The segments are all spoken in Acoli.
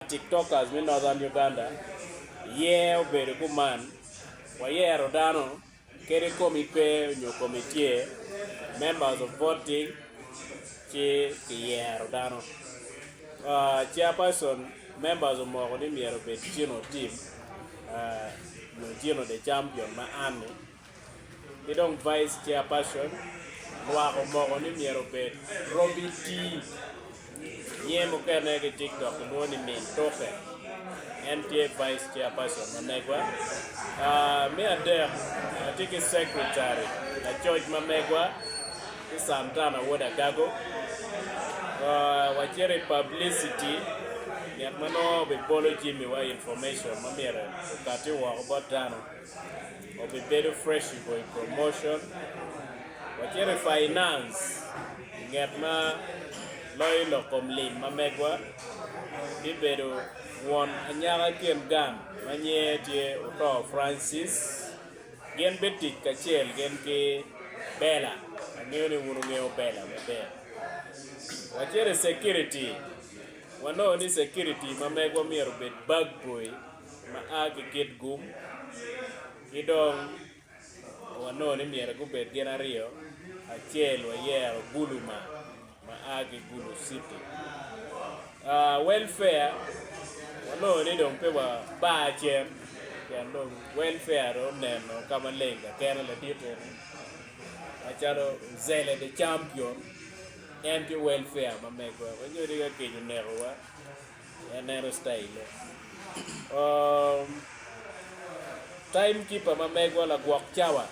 Tiktokers me Northern Uganda iye obedo kuman, Wayero dano kadi komi pe nyo komi tye, Members of Voting, ci Kiyero dano. Chairperson, Members omoko ni myero obed Gino Tim nyo Gino the Champion ma Anne. ki dong Vice Chairperson lwak omoko ni myero obed Robbie Tii nge mukene ki TikTok kilwongo ni Min Tuke en tye Vice Chairperson ma megwa, me adek atye ki Secretary lacoc ma megwa ki Santana Wod Agago, wacito i Publicity nget ma nongo bibolo Jimmy wa information ma myero okati woko bot dano. Wabibedo fresh i boy promotion wacito i finance i nget ma loyo lok kom lim ma megwa bibedo won anyaka kin gang ma nyinge tye Otoo Francis gin bitic kacel gin ki Bella angeyo ni wun wungeyo Bella maber wacito i security wanongo ni security ma megwa myero obed bag boy. ma a ki kit gum, ki dong wanongo ni myero gubed gin aryo, acel wayero Guluma ma a ki Gulu City. Uh, welfare wanongo ni dong pe wabar cen pien dong welfare dong oneno ka maleng kakene ladit eni macalo Zele the Champion en ki welfare ma megwa, wanyodi ka kec onekowa. Aneno citaille. Um, time keeper ma megwa lagwok cawa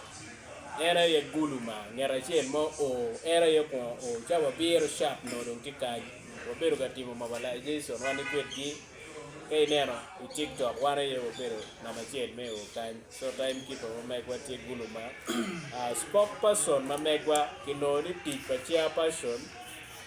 en aye gulu ma nget acel mo o en aye kwongo o cawa biro sharp no dong tye kany wabedo ka timo mobilization wan ikwedgi ka ineno i tiktok wan aye wabedo namba acel me o kany so time keeper ma megwa tye gulu ma uh, spokesperson ma megwa kinongo ni tic pa chairperson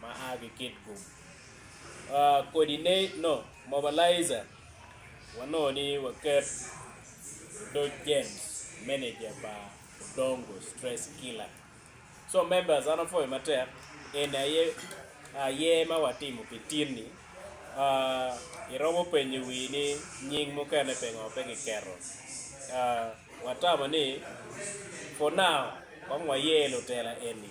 ma a ki kit gum coordinate no mobilizer wanongo ni waket odoc James manager pa Odongo stress killer so members an apwoyo matek eni aye aye ma watimo pi tin ni uh iromo penyo wii ni nying mukene pingo pe ki keto uh watamo ni for now kong wayer lutela eni